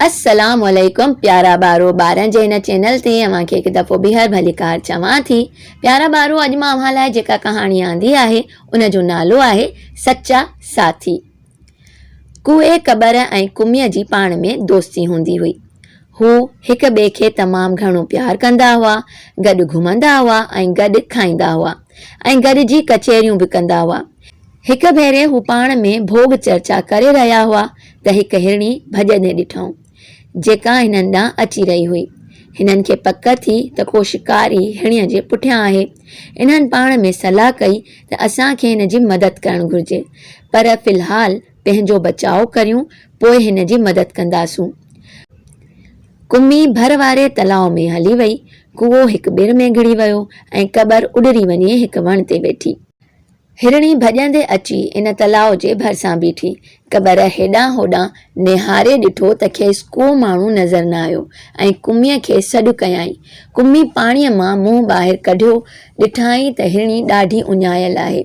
السلام عليڪم پيارا ٻارو ٻارن جي هن چينل تي اوهان کي هڪ دفعو ٻيهر ڀليڪار چوان ٿي پيارا ٻارو اڄ مان اوهان لاء جيڪا ڪهاڻي آندي آهي ان جو نالو آهي سچا ساٿي ڪوهي ڪٻر ۽ ڪميء جي پاڻ ۾ دوستي هوندي هئي. هو هڪ ٻئي کي تمام گهڻو پيار ڪندا هئا، گڏ گهمندا هئا ۽ گڏ کائيندا هئا ۽ گڏجي ڪچهريون به ڪندا هئا. هڪ ڀيري هو پاڻ ۾ ڀوڳ چرچا ڪري رهيا هئا ته هڪ هرڻي ڀڄندي ڏٺائون. جيڪا هنن ڏانهن اچي رهي هئي. هنن کي پڪ ٿي ته ڪو شڪاري هيڻيء جي پٺيان آهي. انهن پاڻ ۾ صلاح ڪئي ته اسان کي هن جي مدد ڪرڻ گهرجي، پر في الحال پنهنجو بچاء ڪريون، پوء هن جي مدد ڪنداسون. ڪمي ڀر واري تلاء ۾ هلي وئي. ڪوئو هڪ ٻر ۾ گهڙي ويو ۽ ڪٻر اڏري وڃي هڪ وڻ تي ويٺي. هرڻي ڀڄندي اچي ان تلاء جي ڀرسان بيٺي. قبر هيڏانهن هوڏانهن نهاري ڏٺو ته کيس ڪو ماڻهو نظر نه آيو ۽ ڪميء کي سڏ ڪيائين. ڪمي پاڻيء مان منهن ٻاهر ڪڍيو، ڏٺائين ته هرڻي ڏاڍي اڃايل آهي.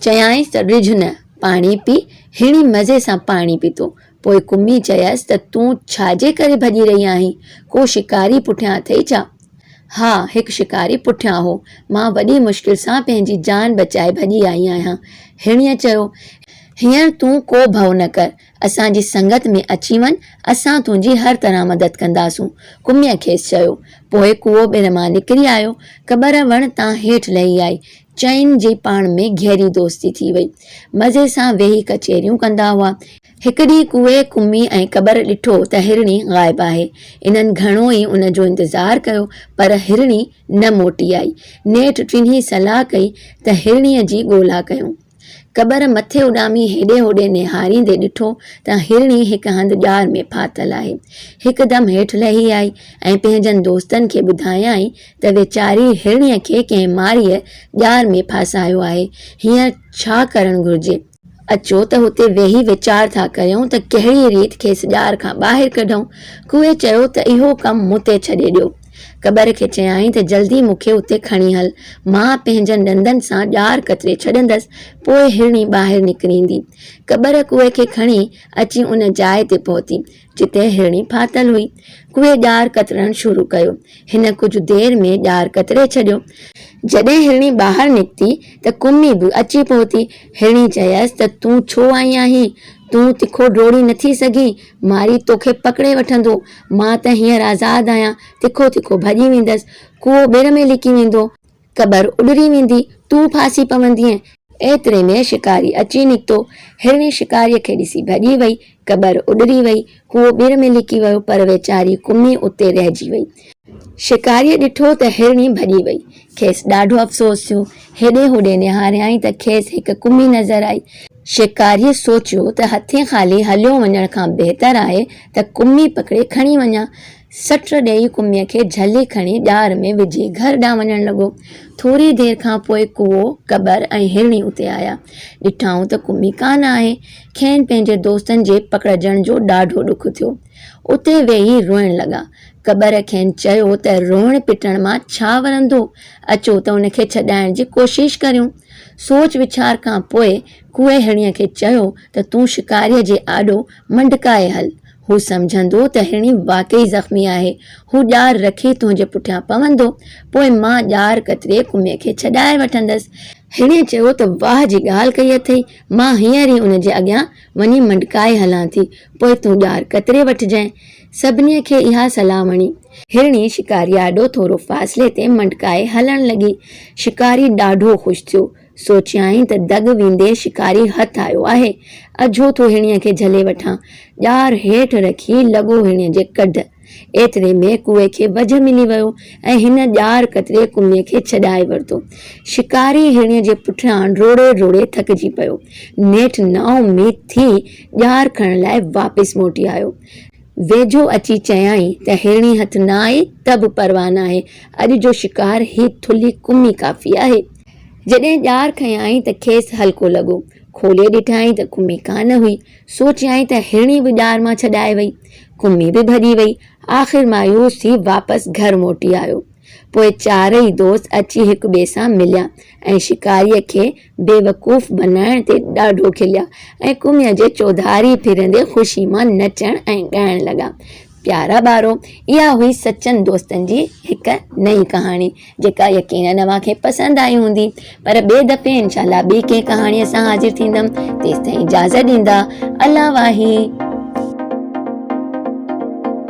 چيائينس ته ڊڄ نه، پاڻي پي. هرڻي مزي سان پاڻي پيتو. پوء قمي چيس ته تون ڇا جي ڪري ڀڄي رهي آهين؟ ڪو شڪاري پٺيان اٿئي ڇا؟ ها، هڪ شڪاري پٺيان هو. مان وڏي مشڪل سان پنهنجي جان بچائي ڀڄي آئي آهيان. هيڻيء چيو. هينئر تون ڪو ڀئو نه ڪر. اسان جي سنگت ۾ اچي وڃ، اسان تنهنجي هر طرح مدد ڪنداسون. قميء کيس چيو. پوء ڪوئو ٻن مان نڪري آيو. قبر وڻ تان هيٺ لهي آئي. چئن جي پاڻ ۾ گهري دوستي ٿي وئي. مزي سان ويهي ڪچهريون ڪندا هئا. هڪ ڏينهن ڪوئي ڪمي ۽ قبر ڏٺو ته هرڻي غائب آهي. انهن گهڻو ئي ان جو انتظار ڪيو پر هرڻي نه موٽي آئي. نيٺ ٽنهي صلاح ڪئي ته هرڻيء جي ڳولا ڪيون. قبر مٿي اڏامي هيڏي هوڏي نهاريندي ڏٺو ته هرڻي هڪ هنڌ ڄار ۾ ڦاٿل آهي. هڪدم هيٺ لهي آئي ۽ پنهنجن دوستن کي ٻڌايائين ته ويچاري هرڻيء کي ڪنهن مارئيء ڄار ۾ ڦاسايو آهي، هينئر ڇا ڪرڻ گهرجي؟ اچو ته هتي ويهي ويچار ٿا ڪريون ته ڪهڙيء ريت کيس ڄار کان ٻاهر ڪڍون. ڪوئي چيو ته اهو ڪم مون تي ڇڏي ڏيو. ڪٻر کي چيائين ته جلدي مون کي اتي کڻي هل. مان پنهنجن ڏندن سان ڄار ڪتري ڇڏندس، پوء هرڻي ٻاهر نڪريندي. ڪٻر ڪوئي کي کڻي اچي ان جاء تي پهتي، جتي هرڻي ڦاٿل هئي، اهي ڄار ڪترڻ شروع ڪيو. هن ڪجهه دير ۾ ڄار ڪتري ڇڏيو. جڏهن هرڻي ٻاهر نڪتي ته ڪمي به اچي پهتي. هرڻي چيس ته تون ڇو آئي آهين؟ تون تکو ڊوڙي نٿي سگهين؟ مارئي توکي پڪڙي وٺندو. مان ته هينئر آزاد آهيان، تکو تکو ڀڄي ويندس. ڪوئو ٻر ۾ لڪي ويندو. قبر اڏري ويندي، تون ڦاسي پوندينء. ايتري ۾ شڪاري اچي نڪتو. هرڻي شڪاريء کي ڏسي ڀڄي وئي. قبر اڏري وئي. هو ٻر ۾ لڪي ويو، پر ويچاري ڪمي اتي رهجي وئي. شڪاريء ڏٺو ته هرڻي ڀڄي وئي. کيس ڏاڍو افسوس ٿيو. هيڏي هوڏي نهاريائين ته کيس هڪ ڪمي نظر آئي. شڪاريء سوچيو ته هٿين خالي هليو وڃڻ کان بهتر آهي ته ڪمي پڪڙي کڻي وڃان. سٽ ڏيئي ڪميء کي جهلي کڻي ڄار ۾ وجهي گهر ڏانهن وڃڻ لڳو. ٿوري دير کان پوء ڪوئو، ڪٻر ۽ هرڻي اتي آيا. ڏٺائون ته ڪمي ڪانه آهي. کين پنهنجي دوستن جي پڪڙجڻ جو ڏاڍو ڏک ٿيو. اتي ويهي روئڻ لڳا. ڪٻر کين چيو ته روئڻ پٽڻ مان ڇا ورندو؟ اچو ته ان کي ڇڏائڻ جي ڪوشش ڪريون. سوچ ويچار کان پوء ڪوئي هرڻيء کي چيو ته تون شڪاريء جي آڏو منڊڪائي هل. هو سمجهندو ته هرڻي واقعي زخمي آهي. هو ڄار رکي تنهنجي پٺيان پوندو. پوء مان ڄار ڪتري ڪمي کي ڇڏائي وٺندس. هرڻيء چيو ته واهه جي ڳالهه ڪئي اٿئي. مان هينئر ئي ان جي اڳيان وڃي منڊڪائي هلان ٿي. پوء تون ڄار ڪتري وٺجانء. سڀنيء کي اها صلاح وڻي. هرڻي شڪاريء آڏو ٿورو فاصلي تي منڊڪائي هلڻ لڳي. شڪاري ڏاڍو خوش ٿيو. سوچيائين ته دڳ ويندي شڪاري هٿ آيو آهي، اجهو ٿو هيڻيء کي جهلي وٺان. ڄار هيٺ رکي لڳو هيڻيء جي ڪڍ. ايتري ۾ ڪوئي کي وجهه ملي ويو ۽ هن ڄار ڪتري ڪميء کي ڇڏائي ورتو. شڪاري هيڻيء جي پٺيان ڊوڙي ڊوڙي ٿڪجي پيو. نيٺ نااميد ٿي ڄار کڻڻ لاء واپس موٽي آيو. ويجهو اچي چيائين ته هيڻي هٿ نه آئي ته به پرواهه ناهي، اڄ جو شڪار هي ٿلهي ڪمي ڪافي آهي. جڏهن ڄار کنيائين ته کيس هلڪو لڳو. کولي ڏٺائين ته ڪمي ڪانه هئي. سوچيائين ته هرڻي به ڄار مان ڇڏائي وئي. ڪمي به ڀڄي وئي. آخر مايوس ٿي واپس گهر موٽي آيو. پوء چارئي دوست اچي هڪ ٻئي سان مليا ۽ شڪاريء کي بيوقوف بنائڻ تي ڏاڍو کليا ۽ ڪميء جي چوڌاري ڦرندي خوشي مان نچڻ ۽ ڳائڻ لڳا ته، پيارا ٻارو، اها هئي سچن دوستن جي هڪ نئين ڪهاڻي، جيڪا يقينن اوهان کي پسند آئي هوندي، پر ٻئي دفعي انشاء الله ٻي ڪنهن ڪهاڻيء سان حاضر ٿيندم، تيستائين اجازت ڏيندا، الله واهي.